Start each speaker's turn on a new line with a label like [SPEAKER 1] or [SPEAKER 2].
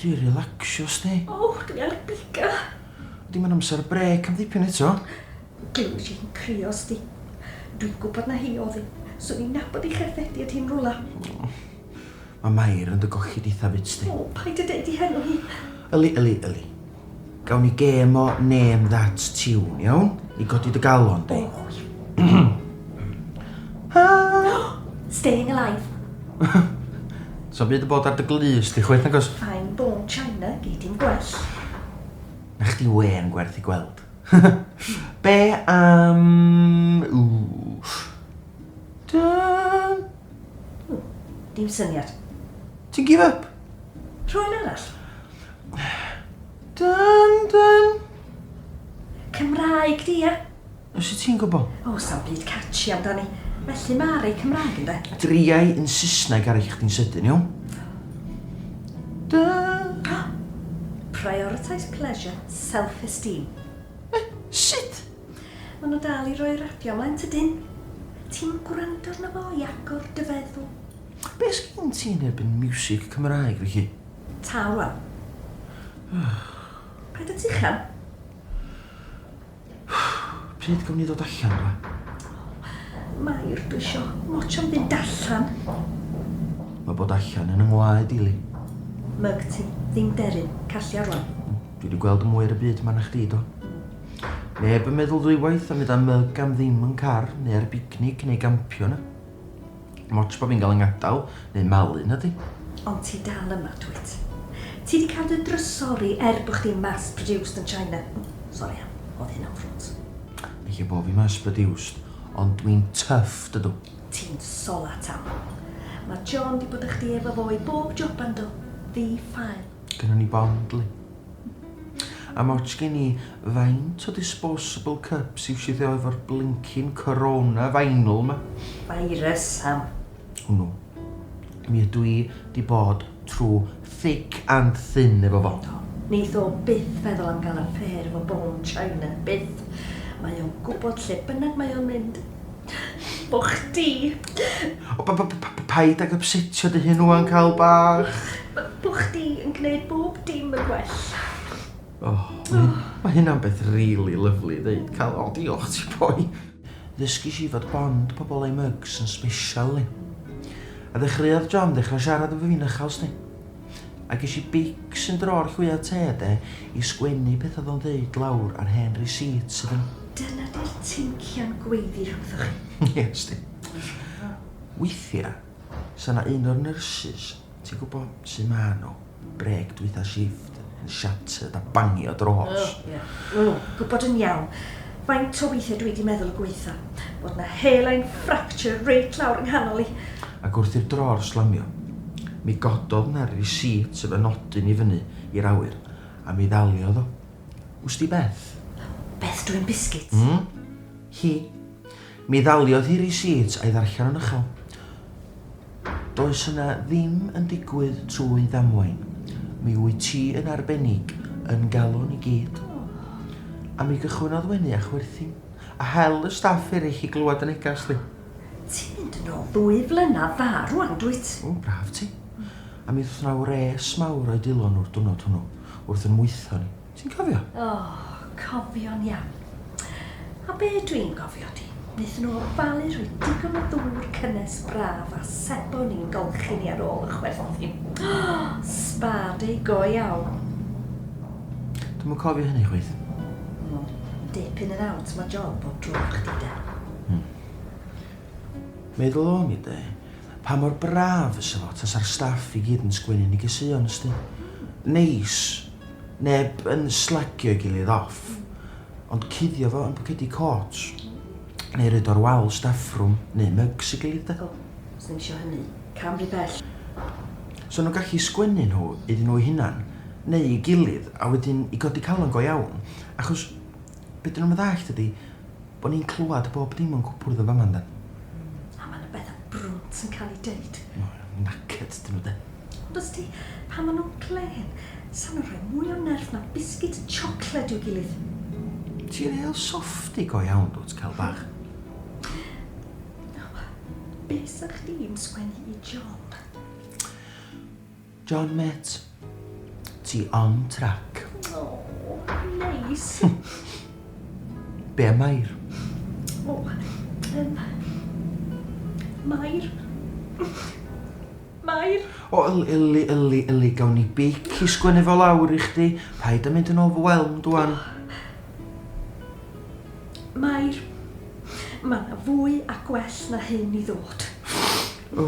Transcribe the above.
[SPEAKER 1] Dwi relaxio sti. O, dwi ar biga.
[SPEAKER 2] Dim yn amser
[SPEAKER 1] brec am ddipyn eto. Dwi'n si'n
[SPEAKER 2] crio sti. Dwi'n gwybod na hi oedd hi. Swn i'n nabod i cherddedi at hi'n rwla.
[SPEAKER 1] Mae Mair yn dy gollid eitha bitch di. O, paid a deud 'i henw
[SPEAKER 2] hi. Yli, yli, yli.
[SPEAKER 1] Gawn ni gêm o name that tune, iawn? I godi dy galon di. O, iawn.
[SPEAKER 2] Staying alive.
[SPEAKER 1] Sa'm byd yn bod ar dy glust di chwaith nagos? Fine bone china,
[SPEAKER 2] gei di'm gwell. Na
[SPEAKER 1] chdi wên gwerth i gweld. Be am... Ww. Dun! Hmm,
[SPEAKER 2] dim syniad. Ti'n give
[SPEAKER 1] up? Rhoi un arall.
[SPEAKER 2] Dun,
[SPEAKER 1] dun. Cymraeg
[SPEAKER 2] di, ia? Os y ti'n gwybod?
[SPEAKER 1] O, sa'n byd catchy
[SPEAKER 2] amdani. Felly mae rei Cymraeg yn de. Driau yn
[SPEAKER 1] Saesneg ar eich di'n sydyn, iawn? Dun.
[SPEAKER 2] Prioritise pleasure, self-esteem. Eh,
[SPEAKER 1] sut?
[SPEAKER 2] Ma nhw dal i roi rapiau mlaen tydyn? Ti'n gwrando arno fo i agor dy feddwl? Be sgin
[SPEAKER 1] ti yn erbyn miwsig Cymraeg fy hun? Tâl rwan.
[SPEAKER 2] Paid a tuchan.
[SPEAKER 1] Pryd gawn ni ddod allan rwan? O,
[SPEAKER 2] Mair, dwi isio motio'n fynd allan.
[SPEAKER 1] Mae bod allan yn yng ngwaed i, Li. Myg ti,
[SPEAKER 2] ddim deryn, callia rwan. Dwi di gweld mwy
[SPEAKER 1] ar y byd ma na chdi, do? Neb yn meddwl ddwywaith am fynd â myg am ddim yn car, neu ar bicnic, neu gampio yna. Dim ots pa fi'n cael 'y ngadael, neu malu, nadi? Ond ti dal
[SPEAKER 2] yma, dwyt? Ti 'di cael dy drysori er bod chdi'n mass-produced yn China. Sori Ann, o'dd hynna'n ffrwd. Ella bo fi
[SPEAKER 1] mass-produced, ond dwi'n tough, dydw. Ti'n solat,
[SPEAKER 2] Ann. Ma' John 'di bod â chdi efo fo i bob joban do? Ddi-ffael. Gynnon ni Bond-ly.
[SPEAKER 1] Am ots gen i faint o disposable cups i'w siwthio efo'r blincin corona vinyl ma. Virus, Sam.
[SPEAKER 2] Hwnnw.
[SPEAKER 1] Mi ydw i 'di bod trw thick and thin efo fo. Do. Neith o byth
[SPEAKER 2] feddwl am ga'l affêr efo Bond China. Byth. Mae o'n gwbod lle bynnag mae o'n mynd. O chdi! O b- b- b-
[SPEAKER 1] paid ag ypsetio dy hun ŵan Cawl bach. Bo chdi
[SPEAKER 2] yn gneud bob dim yn well. O,
[SPEAKER 1] ma' hynna'n beth rili lyfli i ddeud Cawl. O diolch ti boi. Ddysgis i fod bond pobl a'u mugs yn sbeshal yli. A ddechreuodd John ddechra siarad efo fi'n uchel sdi. A ges i beics yn dro'r llwya te de, i sgwennu peth odd o'n ddeud lawr ar hen receipts iddyn nhw. Dyna di'r
[SPEAKER 2] teincian gweiddi rhwngthoch chi. Ie, ysti.
[SPEAKER 1] Weithia, sa 'na un o'r nurses, ti'n gwbo, su' ma' nhw, brêc dwytha shifft. yn shattered a bangio dros. Oh, ie. Oh, gwybod
[SPEAKER 2] yn iawn. Faint o weithiau dwi 'di meddwl y gwaetha. Bod 'na hairline fracture reit lawr yng nghanol i. Ac wrth i'r
[SPEAKER 1] dror slamio, mi gododd 'na receipt efo nodyn i fyny i'r awyr, a mi ddaliodd o. Wsti beth? Beth dwyn
[SPEAKER 2] biscuits? Hmm? Hi.
[SPEAKER 1] Mi ddaliodd hi risiit a'i ddarllen yn uchel. Does yna ddim yn digwydd trwy ddamwain. Mi wyt ti yn arbennig yn galon i gyd. A mi gychwynnodd wenu a chwerthin, a hel y staff erich i glywed dy neges di. Ti'n mynd yn
[SPEAKER 2] ôl ddwy flynadd dda rwan, dwyt? O, braf ti.
[SPEAKER 1] A mi ddoth yna wres mawr o'i dwylo nhw'r dwrnod hwnnw, wrth yn mwytho ni. Ti'n cofio? O, cofio'n
[SPEAKER 2] iawn. A be dwi'n gofio 'di, wnaethon nhw ofalu rhoi digon o ddŵr cynnes braf a sebon i'n golchi ni ar ôl y chwerthin. O! Sba day go iawn.
[SPEAKER 1] Dwi'm yn cofio hynny chwaith. O,
[SPEAKER 2] dip in and out ma' job bob tro efo chdi 'de. Hmm.
[SPEAKER 1] Meddwl o'n i 'de, pa mor braf fysa fo tasa'r staff i gyd yn sgwennu negeseuon ysdi. Neis Neb yn slagio'i gilydd off, ond cuddio fo yn pocedi côt. Neu roid o ar wal staffrwm, neu mygs ei gilydd 'de. O, os ddim isio hynny,
[SPEAKER 2] cam rhy bell. So
[SPEAKER 1] nhw'n gallu sgwennu nhw iddyn nhw'u hunan, neu i gilydd, a wedyn i godi calon go iawn, achos, Be dyn nhw'm yn ddallt ydi bo ni'n clywad bob dim o'n cwpwrdd yn fama yndan? A ma' 'na
[SPEAKER 2] betha brwnt yn cael eu deud. O, knackered
[SPEAKER 1] dyn nhw de. Ond os di,
[SPEAKER 2] pan ma' nhw'n glên, sa nhw'n rhoi mwy o nerth na biscuit chocolate i'w gilydd. Ti'n real
[SPEAKER 1] softy go iawn dwt, Cal bach.
[SPEAKER 2] Be sa chdi'n sgwennu i John? John
[SPEAKER 1] met, ti on track. Aww,
[SPEAKER 2] neis.
[SPEAKER 1] Be am Mair? O, yym,
[SPEAKER 2] Mair? Mair? O, yli, yli,
[SPEAKER 1] yli, yli, gawn ni beic i sgwennu fo lawr i chdi, paid a mynd yn overwhelmed wan.
[SPEAKER 2] Mair, ma' 'na fwy a gwell na hyn i ddod. O.